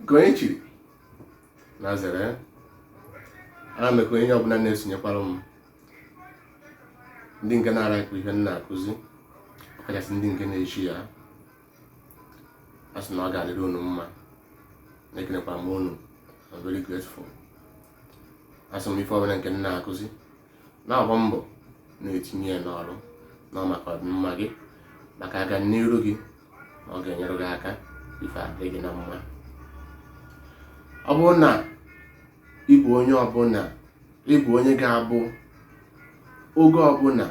nke onye chiri na zere ana m ekene onye ọbụla na-esonyekwara m ndị nke na-alaịkị ihe m na-akụzi ọkachasị ndị nke na-eshia ya a sị na ọ ga-adịrị unu mma na ekenekwa m unu I'm very grateful asị m ife ọbụla nke m na-akụzi na-agba mbọ na-etinye ya n'ọrụ na maka ọdịmma gị maka aga n'iru gị na ọ ga-enyere gị aka ife adị gị na mma ọ bụrụ na ị bụ onye ọbụla ị bụ onye ga-abụ oge ọbụla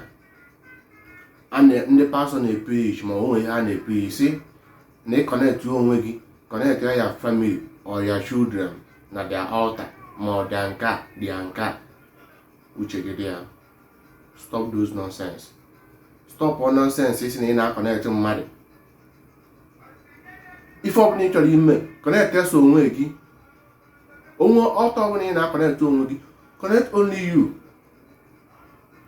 ndị pastọ na-eprichi ma o nwee ihe ha na-eprichi sị na ị connect onwe gị connect your family or your children na their altar ma ọ dị nke a dị nke a uche gị dị ya stop those nonsense stop all nonsense ị sị na ị na-akọnetị mmadụ ife ọbụla ị chọrọ ime connect sọ onwe gị o nwee altar ọbụla ị na-akọnetị onwe gị connect only you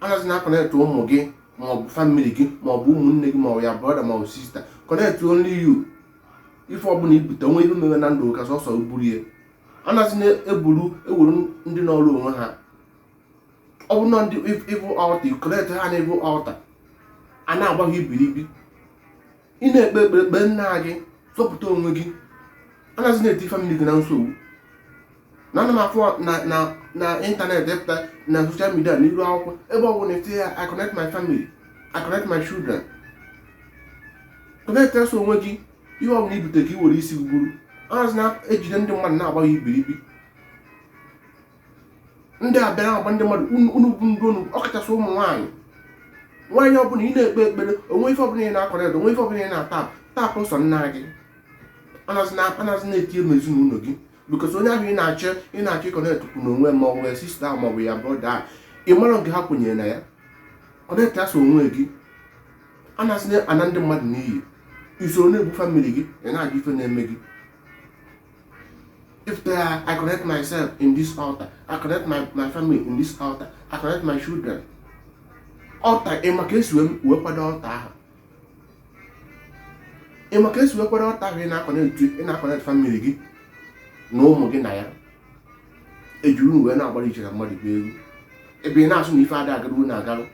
anazina akọnekt ụmụ gị maọbụ family gị maọbụ ụmụnne gị maọbụ your brother maọbụ sister connect only you ife ọbụla i bute o nwee ihe mere na ndụ ka sọsọ buru ya anazina eburu ewuru ndị nọrụ onwe ha ọ bụ na ndị evil altar connect ha na evil altar a na-agba gị ibiribi ị na-ekpe ekpere kpee nnaa gị zọpụta onwe gị anazina eti family gị na nsogbu na ana m afụ na internet ị pụta na social media na iru akwụkwọ ebe ọ bụla etinye ya I connect my family I connect my children connect sọ onwe gị ihe ọ bụla i bute ka i were isi gị buru anazina ejide ndị mmadụ na-agba ha ibiribi ndị abịara agba ndị mmadụ unu bụ ndị unu ọkachasị ụmụ nwaanyị nwaanyị ọbụla ị na-ekpe ekpere o nwee ife ọbụla ị na-akọnekt o nwee ife ọbụla ị na-ataịpụ taịpụ sọ nnaa gị anazina etinye ezinụlọ gị because onye ahụ ị na-achọ ị na-achọ ịkọnekt kwu na onwe ma ọ bụ sister ma ọ bụ your brother ị mara nke ha kwenyere na ya connect sọ onwe gị anazina ana ndị mmadụ n'iyi i soro na-egbu family gị ị na-ajụ ife na-eme gị If there are, I connect myself in this altar, I connect my, my family in this altar, I connect my children. Altar, ị ma ka e si wee kwado altar ahụ. Ị ma ka e si wee kwado altar ahụ ị na-akọnekti ị na-akọnekti family gị na ụmụ gị na ya. E jiri unu wee na-agbara i chere mmadụ bụ egwu. Ebe ị na-asị na ife ada agaruo na-agarụ.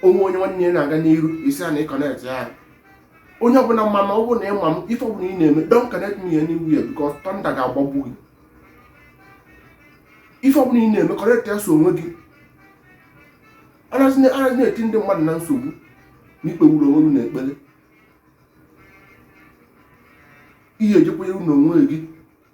O nwee onye nwanne ya na-aga n'iru ị sị ya na ị kọnekti ya onye ọbụla ma m ma ọ bụrụ na ị ma m ife ọbụla ị na-eme don't connect me anywhere because thunder ga-agbagbu gị ife ọbụla ị na-eme connect ya sọ onwe gị anaghị na-eti ndị mmadụ na nsogbu na ikpewuru onwe gị na ekpere i je ekwenyere na onwe gị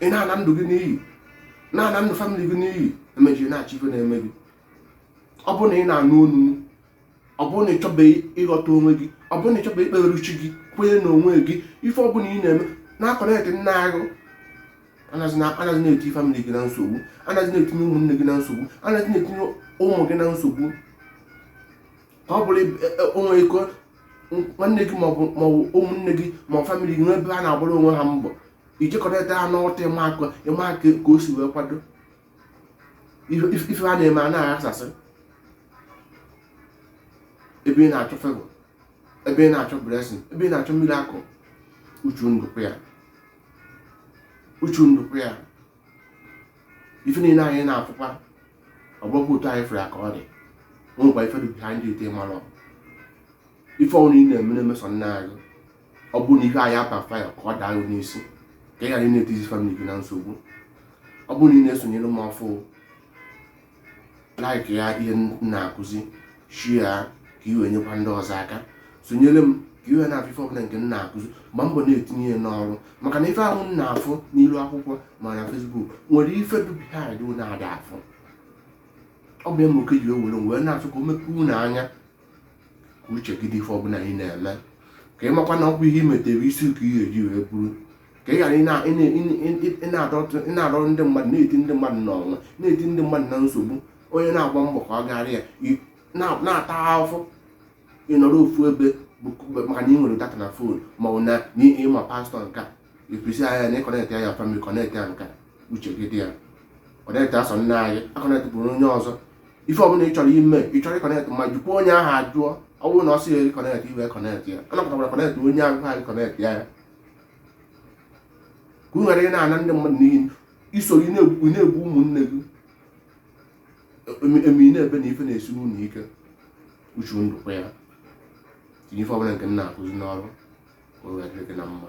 ị na-ana ndụ gị n'iyi na-ana ndụ family gị n'iyi emezie ị na-achọ ife na-eme gị ọ bụrụ na ị na-anụ onu m ọ bụrụ na ị chọbeghị ịghọta onwe gị ọ bụrụ na ị chọbeghị ikpere chi gị kwenye na onwe gị ife ọ bụla ị na-eme na-aconnect naanị gị anaghị na-etinye family gị na nsogbu anaghị na-etinye ụmụnne gị na nsogbu anaghị na-etinye ụmụ gị na nsogbu ọ bụrụ e, e, o nwee ike nwanne gị maọbụ maọbụ ụmụnne gị ma family gị n'ebe ha na-agbara onwe ha mbọ i jee connect ha n'ọta ịma aka ịma aka ka o si wee kwado ife ha na-eme a na-aghasasị ebe ị na-achọ favour ebe ị na-achọ blessing ebe ị na-achọ miracle uche unu dịkwa ya uche unu dịkwa ya ife niile anyị na-afụkwa ọ bụghịkwa otu anyị fụrụ ya ka ọ dị o nwekwa ife dị behind it mara ọ ife ọbụla ị na-eme na-eme sọ naanị gị ọ bụrụ na ife ahụ abackfire ka ọ daa gị n'isi ka ị ghara ị na-etizi family gị na nsogbu ọ bụrụ na ị na-esonyere m ọfụ like ya ihe m na-akụzi share ya ka i wee nyekwa ndị ọzọ aka sonyere m ka i wee na-afụ ife ọbụla nke m na-akụzi gbaa mbọ na-etinye ya n'ọrụ maka na ife ahụ unu na-afụ n'ilu akwụkwọ ma na Facebook nwere ife dị behind unu ada afụ ọ bụ ya mere okike ji wee were m wee na-achọ ka o mepee unu anya ka uche gị dị ife ọbụla ị na-eme ka ị makwa na ọkwa ihe i metere isi ka i je eji wee buru ka ị ghara ị na-adọrọ ndị mmadụ na-eti ndị mmadụ n'ọnya na-eti ndị mmadụ na nsogbu onye na-agba mbọ ka ọ gara ya na-ata ahụhụ ị nọrọ ofu ebe maka na ị nwere data na phone ma ọ na ị ma pastor nke a ekwesị anya na i connect ya family connect ya nke a uche gị dị ya connect ya sọ naanị gị aconnectkwala onye ọzọ ife ọbụla ị chọrọ ime ị chọrọ iconnect ma jụkwa onye ahụ ajụ ọ bụrụ na ọ sị gị connect i wee connect ya ọ napụtakwara connect onye ahụ ha connect ya ka unu ghara ị na-ana ndị mmadụ n'iyi i soro ị na-egbu ụmụnne gị eme ị na-ebe na ife na-esi unu ike uche unu dịkwa ya tinye ife ọbụla nke m na-akụzi n'ọrụ ka o wee dịrị gị na mma